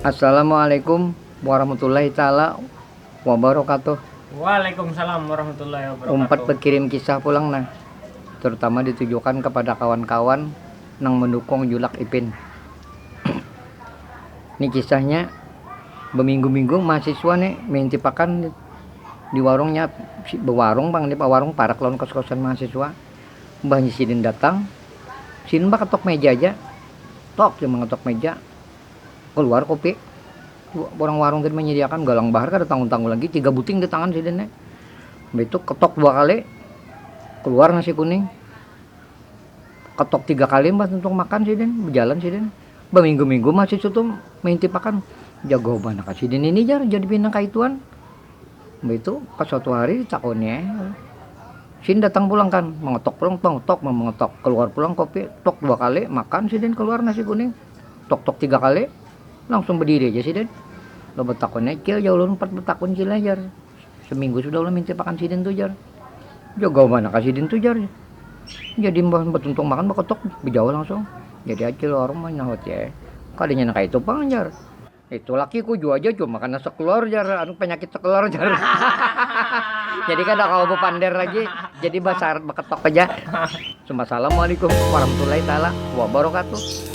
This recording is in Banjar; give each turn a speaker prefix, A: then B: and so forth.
A: Assalamualaikum warahmatullahi taala wabarakatuh. Waalaikumsalam warahmatullahi wabarakatuh. Umpat bakirim kisah pulang nah, terutama ditujukan kepada kawan-kawan nang mendukung julak Ipin. Ni kisahnya, baminggu-minggu mahasiswa ni maintipakan di warungnya, si bawarung pang ni, bawarung parak lawan kos-kosan mahasiswa. Mbahnya sidin datang, sidin bakatok meja haja, tok jar mangatok meja, kaluar kopi, urang warung tadi manyadiakan, galang bahar kada tangul-tangul lagi, tiga buting di tangan sidin ne, mbah itu katok dua kali, kaluar nasi kuning, katok tiga kali mbah tuntung makan sidin, bajalan sidin, baminggu-minggu mahasiswa tu maintip akan, jago banar kah sidin ini jar jadi pina kaituan. Baitu pas suatu hari ditakoni ai, sidin datang pulang kan, mangetok pulang tong tok mangetok, keluar pulang kopi tok dua kali, makan sidin keluar nasi kuning tok tok tiga kali, langsung bediri aja sidin, lah betakun ai cil jar ulun umpat betakun cil ai jar, seminggu sudah ulun mintip akan sidin tu jar, jaga banar ka sidin tu jar, jadi imbah betuntung makan beketok bejauh langsung, jadi acil warung mah nyahuti ai, kadanya nang kaya itu pang jar. Itu lakiku jua aja cuma kena sekeluar jar anu penyakit sekeluar jar. jadi kada kalau bepander lagi, jadi basar beketok aja. Cuma assalamualaikum warahmatullahi taala wabarakatuh.